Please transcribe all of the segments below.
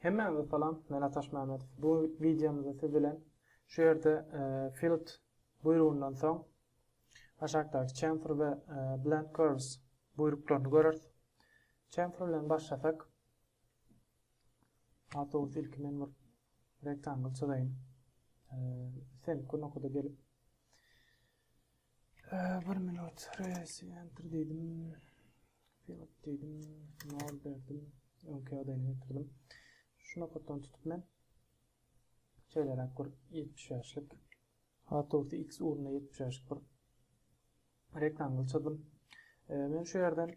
Hemmäňize salam, men Ataş Mämedow. Bu wideomyzda siz bilen şu ýerde e, field buýrugyndan soň aşakdaky chamfer we e, blend curves buýruklaryny göreris. Chamfer bilen başlasak, Alt dogrusu ilki men bir rektangl çyzaýyn. Ee, sen kurnakada gelip Bir minut resi enter diýdim. Pilot diýdim. Nol berdim. Öňki ýagdaýyna getirdim. Şu nokatdan tutup men şeýleräk bir 75-lik Autobus X ugruna 75-lik bir rektangle çyzdym. Men şu ýerden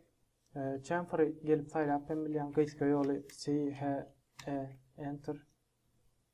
chamfer gelip saýlap hem bilýän, gysga ýoly C, H, E, enter.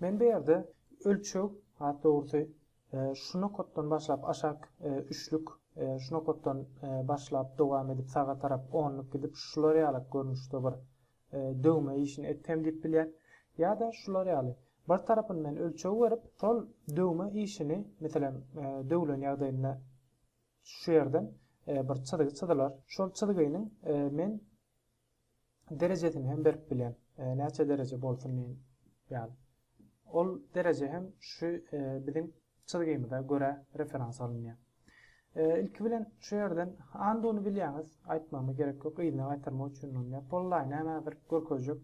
Men bu ýerde ölçeg, has dogrusy, şu nokatdan başlap aşak üçlük, şu nokatdan başlap dowam edip saga tarap onluk gidip şular ýalak görnüşde bir döwme işini etsem diýip bilýän. Ýa-da şular ýaly, bir tarapyny men ölçeg berip, şol döwme işini, meselem, döwlen ýagdaýynda şu ýerden bir çyzgy çyzylar. Şol çyzgynyň men derejesini hem berip bilen. E, näçe dereje bolsun men ýaly. Ol dereje hem şu e, biziň çyzgymyza görä referans alynýar. E, ilki bilen şu ýerden anduny bilýäňiz, aýtmama gerek ýok, yzyna gaýtarmak üçin ulanýar. Pollaý näme bir görkezjek.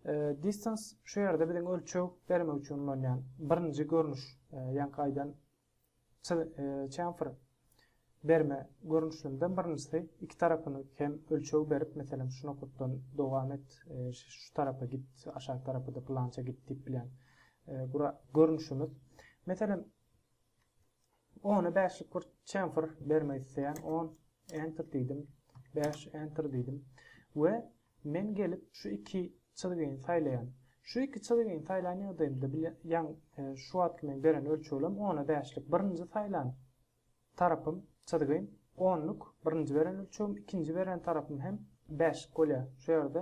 E, distance şu ýerde biziň ölçeg bermek üçin ulanýan birinji görnüş, e, ýaňky aýdan Çemfer berme görnüşlerinden birinjisi iki tarapyny hem ölçeg berip meselem şu nokatdan dowam et şu tarapa git aşak tarapyda pylança git diýip bilen görnüşimiz meselem ony beşlik bir çemfer bermek isleýän on enter diýdim beş enter diýdim we Men gelip şu iki çyzgyny saýlaýan. Şu iki çyzgyny saýlan ýagdaýymda bile ýan şu wagtky men beren ölçeglerim ona bäşlik birinji saýlan tarapym, çyzgym, onluk birinji beren ölçegim, ikinji beren tarapym hem bäşlik bolýar. Şu ýerde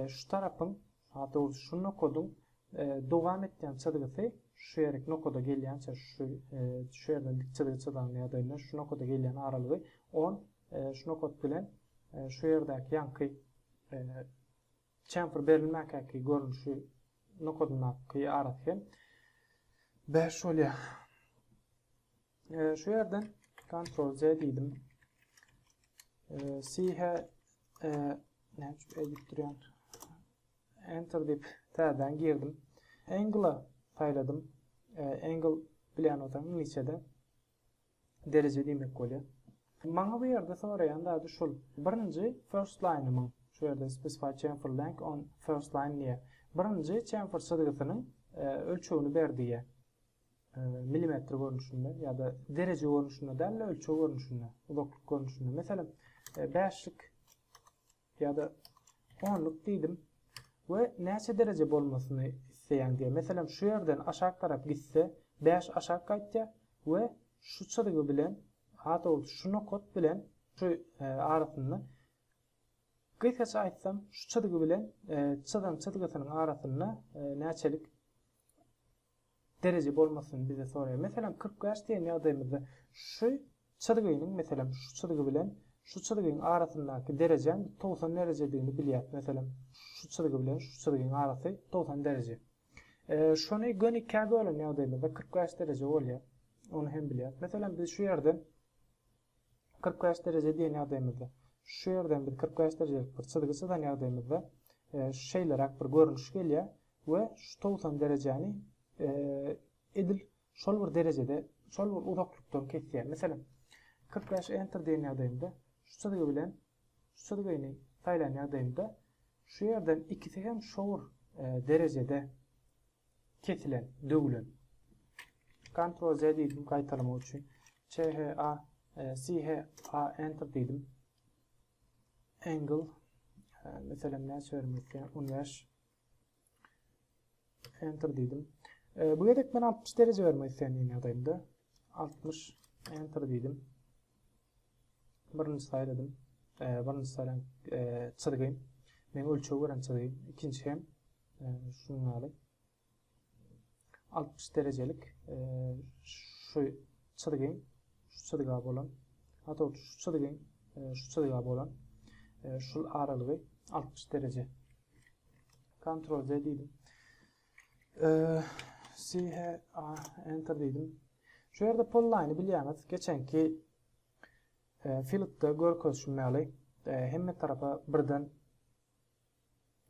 şu tarapyň, daha dogrusy şu nokadyň dowam etýän çyzgysy şu ýerik nokada gelýänçä şu şu ýerden dik çyzgy çyzan ýagdaýymda şu nokada gelýän aralygy on Şu nokat bilen şu ýerdäki ýaňky çemfer berilmäkäki görnüşi nokadyndaky arasy hem 5 bolýar. Şu ýerden Ctrl C diýdim. Sihe näme üçin edip durýan? Enter diýip täzeden girdim. Angle saýladym. Angle bilen otaň niçede Dereje diýmek bolýar. Maňa bu ýerde soraýan zady şul. Birinji first line-ymyň, şu ýerde specify chamfer length on first line diýýär. Birinji chamfer çyzgysynyň ölçegini ber diýýär. Milimetr görnüşinde ýa-da dereje görnüşinde däl-de ölçeg görnüşinde, uzaklyk görnüşinde. Meselem, bäşlik Ýa-da onluk diýdim we näçe dereje bolmasyny isleýäň diýýär. Meselem, şu ýerden aşak tarap gitse, bäş aşak gaýtýar we şu çyzgy bilen, ha dogrusy, şu nokat bilen şu arasynda, gysgaça aýtsam, şu çyzgy bilen çyzan çyzgysynyň arasynda näçelik dereje bolmasyny bize soraýar. Meselem, kyrk bäş diýen ýagdaýymyzda şu çyzgynyň, meselem, şu çyzgy bilen şu çyzgyň arasyndaky derejäň togsan derejedigini bilýäs. Meselem, şu çyzgy bilen şu çyzgyň arasy togsan dereje. Şony göni ikä bölen ýagdaýymyzda kyrk bäş dereje bolýar. Ony hem bilýäs. Meselem, biz şu ýerden Kyrk bäş dereje diýen ýagdaýymyzda, şu ýerden biz kyrk bäş derejelik bir çyzgy çyzan ýagdaýymyzda, şeýleräk bir görnüş gelýär we şu togsan derejäni edil şol bir derejede, şol bir uzaklykdan kesýär. Meselem, kyrk bäş Enter diýen ýagdaýymda, şu çyzgy bilen şu çyzgyny saýlan ýagdaýymda, şu ýerden ikisi hem şowur derejede Kesilen, döwlen. Ctrl Z diýdim gaýtalamak üçin. CHA, CHA enter diýdim. Angle meselem näçe bermek isleýän 15 enter diýdim. Bu gezek men 60 dereje bermek isleýän ýagdaýymda 60 enter diýdim. Birinji saýladym. Birinji saýlan çyzgym. Men ölçeg beren çyzgym. Ikinji hem şunuň ýaly. 60 derejelik şu çyzgym, şu çyzga bolan, hatda şu çyzgym, şu çyzga bolan şul aralygy 60 dereje. Ctrl Z diýdim. Sihe enter diýdim. Şu ýerde polline bilýäňiz, geçenki filtde görkezişim ýaly hemme tarapa birden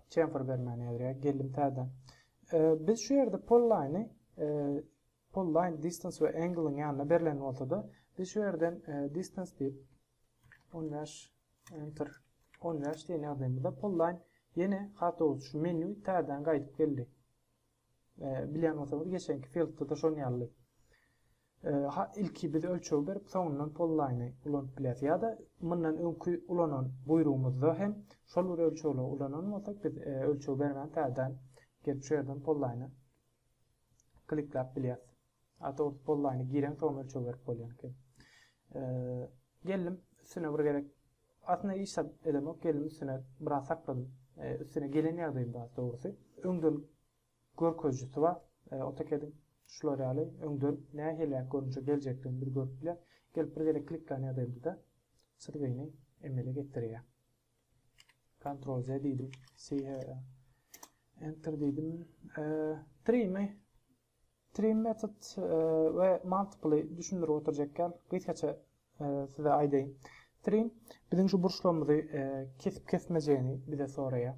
chamfer bermäni ýazýar. Geldim täzeden. Biz şu ýerde polline polline distance we angle-yň ýanyna berlen bolsa-da, biz şu ýerden distance diýip On bäş, enter. On bäş diýen ýagdaýymyzda pullaýyn. Ýene hatawut şu menýu täzeden gaýdyp geldi. Bilýän bolsaňyz geçenki fieldda-da şon ýaly. Ha, ilki biz ölçeg berip, soňundan pullaýyny ulanyp bileris. Ýa-da mundan öňki ulanan buýrugymyzda hem şol bir ölçegleri ulanan bolsak, biz ölçeg bermän täzeden gelip şu ýerden pullaýyny klikläp bileris. Ata urdup bollaýyny gireňsoň ölçeg berip bolýan eken. Geldim üstüne bir gerek aslynda hiç zat edemok geldim üstüne biraz sakladym. Üstüne gelen ýagdaýym bar dogrusy. Öňden görkezijisi bar. AutoCAD-iň şular ýaly öňden nähiliräk görnüşe geljekdigini bir görüp biler. Gelip bir gerek kliklän ýagdaýymda-da surweýini emele getirýär. Ctrl Z diýdim. Enter diýdim. Trimi Trim method we multiply düşündirip oturjak ýaly gysgaça size aýdaýyn. Trim biziň şu burçlarymyzy kesip kesmejegini bize soraýar.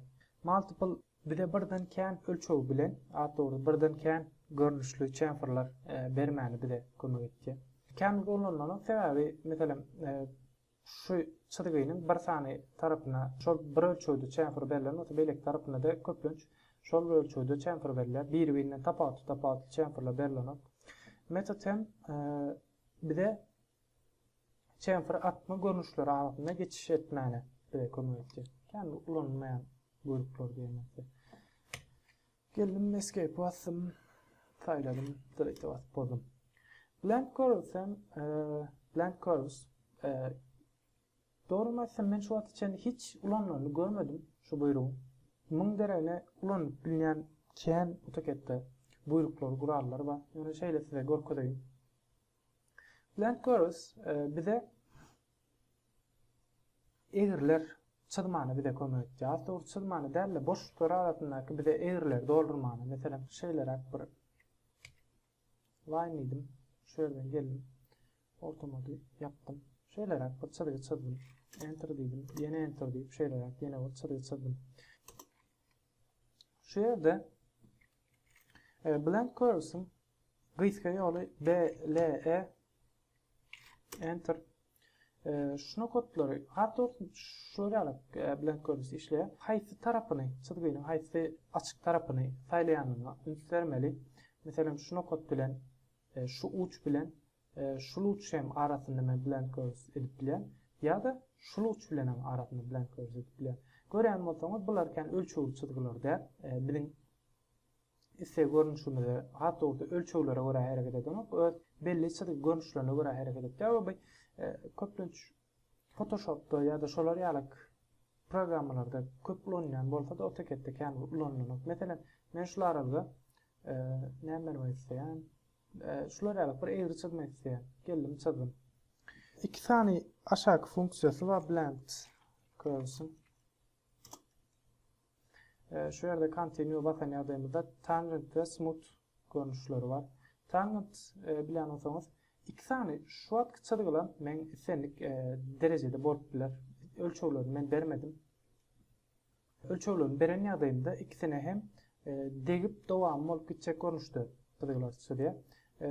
Multiply bize birden kän ölçegi bilen, has dogry birden kän görnüşli çemferler bermäni bize kömek etýär. Kän ulanylanyň sebäbi meselem Şu çyzgynyň bir sany tarapyna şol bir ölçegde çemfür berlen bolsa, beýleki tarapynada köplenç şol bir ölçegde çemfür berilýär. Biri-birinden tapawutly-tapawutly çemfürler berlenok. Metod hem bize çemfür atma görnüşleri arasynda geçiş etmäne bize kömek etjek. Kän ulanylmaýan bölükler diýen bolsa. Geldim escape basdym saýladym delete basyp bozdum. Blank curves hem blank curves dogrymy aýtsam men şu wagta çenli hiç ulanylanyny görmedim şu buýrugy. Müň deregine ulanyp bilýän kän AutoCAD-de buýruklary gurallary bar. Ýöne şeýle size görkezeýin. Blank curves bize Egriler çyzmany bize kömek etýär. Aslynda ol çyzmany däl-de, boşluklar arasyndaky bize egrileri doldurmany. Meselem, şeýleräk bir line diýdim. Şu ýerden geldim. Ortamady ýapdym. Şeýleräk bir çyzgy çyzdym. Enter diýdim. Ýene enter diýip, şeýleräk ýene bir çyzgy çyzdym. Şu ýerde e, blend curves-iň Gysga ýoly BLE Enter Şuna kodlary, has dogrusy şular ýaly bilen görnüşde işleýär. Haýsy tarapyny, çyzgynyň haýsy açyk tarapyny saýlaýanyňa üns bermeli. Meselem, şuna kod bilen, şu uç bilen, şul uç hem arasynda men blend görnüşde edip bilýän. Ýa-da şul uç bilenem arasynda blend görnüşde edip bilýän. Görýän bolsaňyz, bular kän ölçegli çyzgylar däl. Biziň Isse görnüşimize, has dogrusy ölçeglere görä hereket edenok, öz belli çyzgy görnüşlerine görä hereket etýär we bu köplenç Photoshopda ýa-da şolar ýaly programmalarda köp ulanylýan bolsa-da, AutoCAD-de kän ulanylanok. Meselem, men şul aralga näme bermek isleýän? Şular ýaly bir egri çyzmak isleýän. Geldim, çyzdym. Iki sany aşaky funksiýasy bar, blend curves-iň. Şu ýerde Continue basan ýagdaýymyzda Tangent we Smooth görnüşleri bar. Tangent bilen bolsaňyz iki sany şu wagtky çyzgylar men islendik derejede bolup biler. Ölçeglerini men bermedim. Ölçeglerini beren ýagdaýymda ikisine hem degip dowamy bolup gitjek görnüşde çyzgylar çyzýar.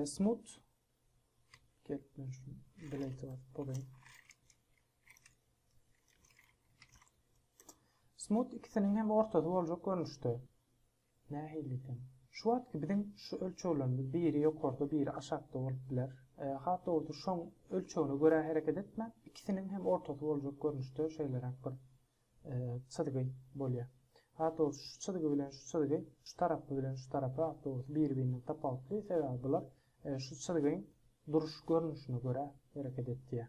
Smooth gelip men şu delete basyp bolaýyn. Smut ikisiniň hem ortasy boljak görnüşde. Nähili eken? Şu wagtky biziň şu ölçeglerimiz biri ýokarda biri aşakda bolup biler. Hat dogrusy şoň ölçegine görä hereket etmän ikisiniň hem ortasy boljak görnüşde şeýleräk bir çyzgy bolýar. Hat dogrusy şu çyzgy bilen şu çyzgy şu tarapy bilen şu tarapy hat dogrusy biri birinden tapawutly sebäbi bular şu çyzgyň duruş görnüşine görä hereket etýär.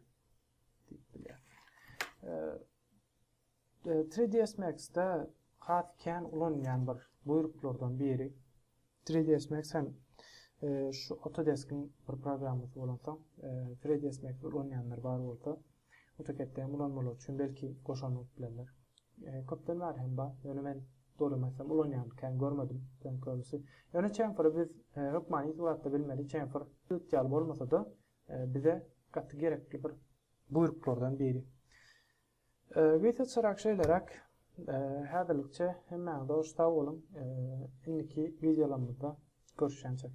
3ds Max-da has kän ulanýan bir buýruklardan biri. 3ds Max hem e, şu Autodesk-iň bir programmasy bolansoň, 3ds e, Max ulanýanlar bar bolsa, AutoCAD-de hem ulanmalar üçin belki goşan bolup bilerler. E, köpden bäri hem bar. Ýöne men doly meselem ulanýan kän görmedim sen körüsi. Ýöne chamfer biz hökmany suratda bilmeli, chamfer ýaly bolmasa-da, Bize gaty gerekli bir buýruklardan biri. Wise çyrak şeýleräk. Häzirlikçe hemmäňize hoş sag boluň. Indiki wideolarymyzda görüşýänçek.